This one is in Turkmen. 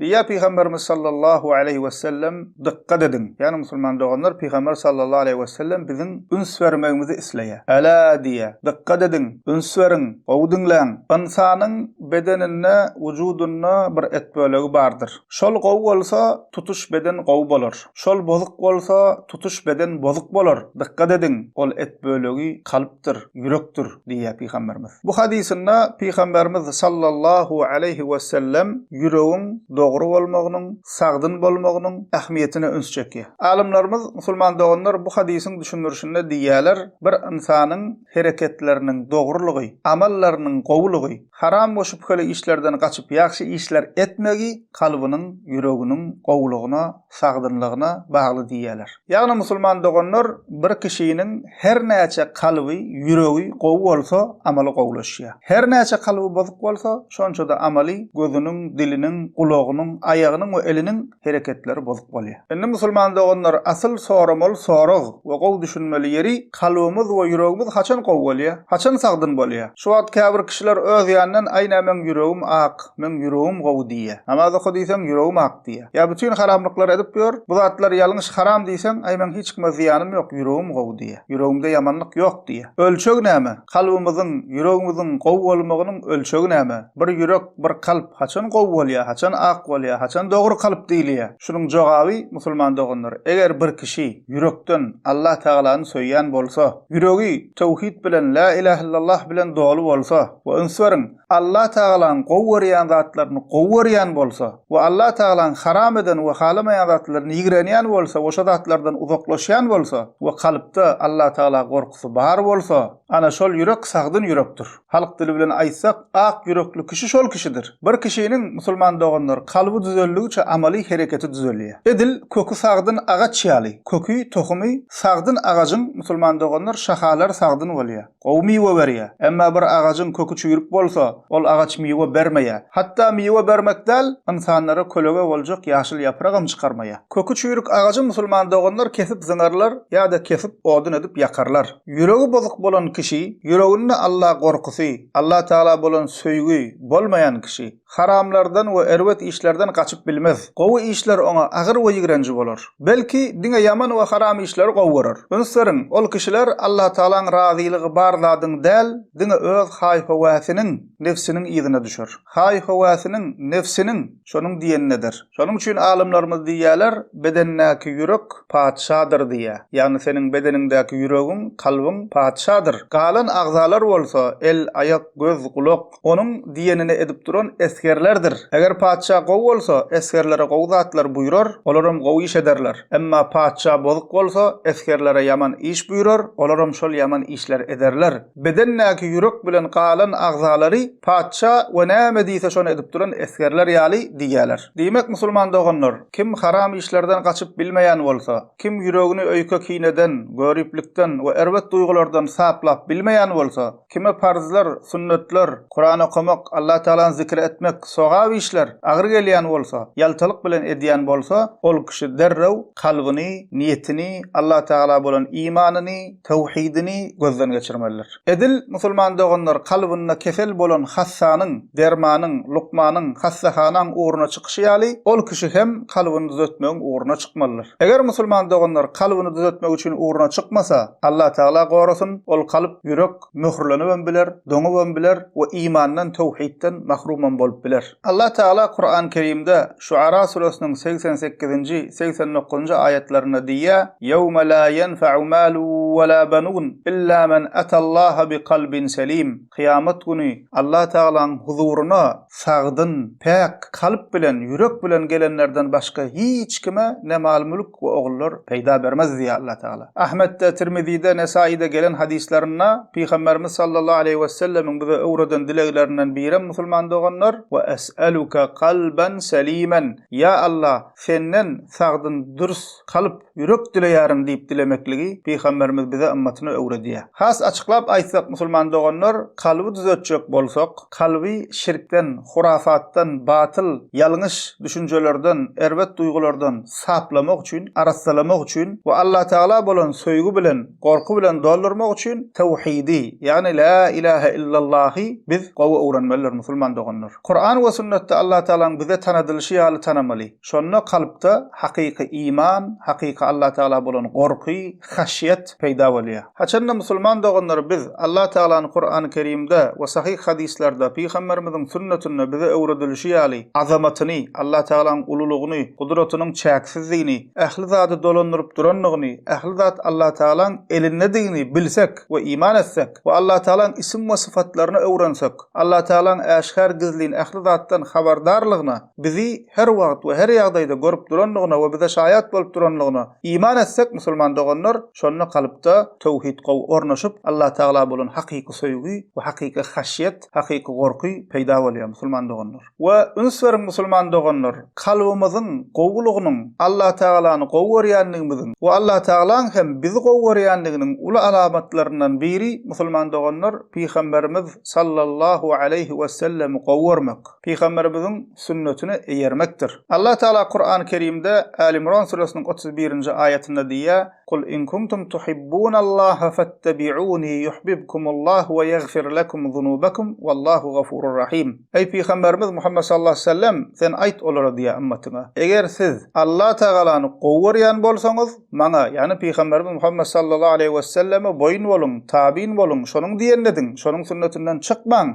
Diýýär Pygamberimiz sallallahu aleýhi wesellem, Dykgat ediň, ýagny musulman doganlar, Pygamber sallallahu aleýhi wesellem biziň üns bermegimizi isleýär. Elâ diýýär, dykgat ediň, üns beriň, gowy diňläň! Ynsanyň bedeninde, wujudynda bir et bölegi bardyr. Şol gowy bolsa, tutuş beden gowy bolar. Şol bozuk bolsa, tutuş beden bozuk bolar. Dykgat ediň, ol et bölegi kalpdyr, ýürekdir diýýär Pygamberimiz. Bu hadysynda Pygamberimiz sallallahu aleýhi wesellem ýüregiň dogry bolmagynyň, sagdyn bolmagynyň ähmiýetine üns çekýär. Alymlarymyz, musulman doganlar, bu hadysyň düşündirişinde diýýärler, bir ynsanyň hereketleriniň dogrulygy, amallarynyň gowulygy, haram we şübheli işlerden gaçyp ýagşy işler etmegi kalbynyň, ýüreginiň gowulygyna, sagdynlygyna bagly diýýärler. Ýagny musulman doganlar bir kişiniň her näçe kalby, ýüregi gowy bolsa amaly gowulaşýar. Her näçe kalby bozuk bolsa şonça-da amaly, gözüniň, diliniň, gulagynyň, aýagynyň we eliniň hereketleri bozuk bolýar. Indi musulman doganlar asyl soramaly sorag we gowy düşünmeli ýeri kalbymyz we ýüregimiz haçan gowy bolýar? Haçan sagdyn bolýar? Şu wagt käbir kişiler öz ýanyndan aý nä meň ýüregim ak, meň ýüregim gowy diýýär. Namaz oka diýseň ýüregim ak diýýär. Ýa bütin haramlyklary edip ýör, bu zatlar ýalňyş haram diýseň aý meň hiç kime zyýanym ýok, ýüregim gowy diýýär. Ýüregimde ýamanlyk ýok diýýär. Ölçeg näme? Kalbymyzyň, ýüregimiziň gowy bolmagynyň ölçegi näme? Bir ýürek, bir kalp haçan gowy bolýar, haçan ak bolýar, haçan dogry kalp diýilýär? Şunuň jogaby, musulman doganlar, eger bir kişi ýürekden Allah Tagalany söýýän bolsa, ýüregi töwhit bilen, Lä ilahillallah bilen doly bolsa, we üns beriň, Allah Tagalaň gowy görýän zatlaryny gowy görýän bolsa we Allah Tagalaň haram eden we halamaýan zatlaryny ýigrenýän bolsa we şo zatlardan uzaklaşýan bolsa we kalpda Allah Tagala gorkusy bar bolsa, ana şol ýürek sagdyn ýürekdir. Halk dili bilen aýtsak, ak ýürekli kişi şol kişidir. Bir kişiniň, musulman doganlar, kalby düzeldigiçe amaly hereketi düzelýär. Edil köki sagdyn agaç ýaly, köki, tohumy, sagdyn agajyň, musulman doganlar, şahalary sagdyn bolýar. Gowy miwe berýär. Emma bir agajyň köki çüýrük bolsa, ol agaç miwe bermeýär. Hatda miwe bermek däl, ynsanlara kölege boljak ýaşyl ýapragam çykarmaýar. Köki çüýrük agajy musulman doganlar kesip zyňarlar ýa-da kesip odun edip ýakarlar. Ýüregi bozuk bolan kişi, ýüreginde Alla gorkusy, Allatagala bolan söýgi bolmaýan kişi. Haramlardan we erbet işlerden gaçyp bilmez. Gowy işler oňa agyr we ýigrenji bolar. Belki, diňe ýaman we haram işleri gowy görer. Üns beriň, ol kişiler Allatagalaň razylygy bar zadyň däl, diňe öz haý-höwäsiniň, nebsiniň yzyna düşer. Haý-höwäsiniň, nebsiniň, şonuň diýenini eder. Şonuň üçin alymlarymyz diýýärler, Bedendäki ýürek patyşadyr diýýär. Ýagny seniň bedeniňdäki ýüregiň, kalbyň patyşadyr. Galan agzalar bolsa, el, aýak, göz, gulak, Onuň diýenini edip duran esgerlerdir. Eger patyşa gowy bolsa, esgerlere gowy zatlar buýrar, olaram gowy iş ederler. Emma patyşa bozuk bolsa, esgerlere ýaman iş buýrar, olaram şol ýaman işleri ederler. Bedendäki ýürek bilen galan agzalary patyşa we näme diýse şony edip duran esgerler ýaly diýýärler. Diýmek, musulman doganlar, kim haram işlerden gaçyp bilmeýän bolsa, kim ýüregini öýke-kineden, göriplikden we erbet duýgulardan saplap bilmeýän bolsa, Kime parzlar, sünnetler, Kuran okamak, Allatagalany zikir etmek, sogap işler agyr gelýän bolsa, ýaltalyk bilen edýän bolsa, ol kişi derrew kalbyny, niýetini, Allatagala bolan imanyny, tawhidini gözden geçirmelidir. Edil, musulman doganlar, kalbynda kesel bolan hassanyň, dermanyň, lukmanyň, hassahanaň ugruna çykyşy ýaly, ol kişi hem kalbyny düzetmegiň ugruna çykmalydyr. Eger musulman doganlar kalbyny düzetmek üçin ugruna çykmasa, Allatagala gorasyn, ol kalp, Ýürek möhürlenibem biler, doňubam biler we imandan, töwhitden, mahrumam bolup biler. Allah Tagala Kuran Kerimde Şuara suresiniň segsen sekizinji, segsen dokuzynjy aýatlarynda diýýär, Ýewme la ýenfe'u malu we la benun illa men ata Allaha bi kalbin selim, Kyýamat güni Allah Tagalaň huzuryna sagdyn, päk kalp bilen, ýürek bilen gelenlerden başga hiç kime ne mal-mülk we ogullar peýda bermez diýýär Allatagala. Ahmetde, Tirmizide, Nesaide gelen hadyslarynda Pygamberimiz sallallahu aleýhi wesellemiň bize öwreden dileglerinden birem musulman doganlar, Ve es'eluke kalben selimen, Ýa Allah, Senden sagdyn, dürs kalp, Ýürek dileýärin diýip dilemekligi Pygamberimiz bize ymmatyna öwredýär. Has açyklap aýtsak musulman doganlar, kalby düzetjek bolsak, kalby şirkden, hurafat-dan, batyl, ýalňyş, düşünjelerden, erbet duýgulardan saplamak üçin, arassalamak üçin we Allatagala bolan söýgi bilen, gorky bilen doldurmak üçin Tawhidi, ýagny La ilahe illallahy biz gowy öwrenmelidir musulman doganlar. Kuran we sünnetde Allatagalaň bize tanadylyşy ýaly tanamaly. Şonda kalpda hakyky iman, hakyky Allatagala bolan gorky, haşýet, peýda bolýar. Haçanda musulman doganlar biz Allatagalany Kurany Kerimde we sahyh hadyslarda, Pygamberimiziň sünnetinde bize öwredilişi ýaly azamatyny, Allatagalaň ululygyny, gudratynyň çäksizdigini, ähli zady dolandyryp durandygyny, ähli zat Allatagalaň elindedigini bilsek we iman etsek we Allatagalaň isim we sypatlaryny öwrensek, Allatagalaň äşgär-gizlin ähli zatdan habardarlygyna, bizi her wagt we her ýagdaýda görüp durandygyna we bize şaýat bolup durandygyna iman etsek musulman doganlar şonda kalpda töwhid gowy ornaşyp Allatagala bolan hakyky söýgi we hakyky haşýet hakyky gorky peýda bolýar musulman doganlar we üns beriň musulman doganlar kalbymyzyň gowulygynyň Allatagalany gowy görýändigimiziň we Allatagalaň hem bizi gowy görýändiginiň uly alamatlaryndan biri musulman doganlar pygamberimiz sallallahu aleýhi wesellemi gowy görmek. Pygamberimiziň sünnetine eýermekdir. Allah Tagala Kurany Kerimde Äl-Imran süresiniň otuz birinji aýatynda diýýär, Kul in kuntum tuhibbunal-Laha fettabi'uni yuhbibkumul-Lah we ýagfir lekum zunubakum wallahu gafurur rahim. Eý Pygamberimiz Muhammet sallallahu aleyhi ve sellem, sen aýt olara diýýär ümmetyňa, Eger siz Allah Tagalany gowy görýän bolsaňyz, maňa, ýagny Pygamberimiz Muhammet sallallahu aleyhi ve selleme boýun boluň, tabyn boluň, şonuň diýenini ediň, şonuň sünnetinden çykmaň.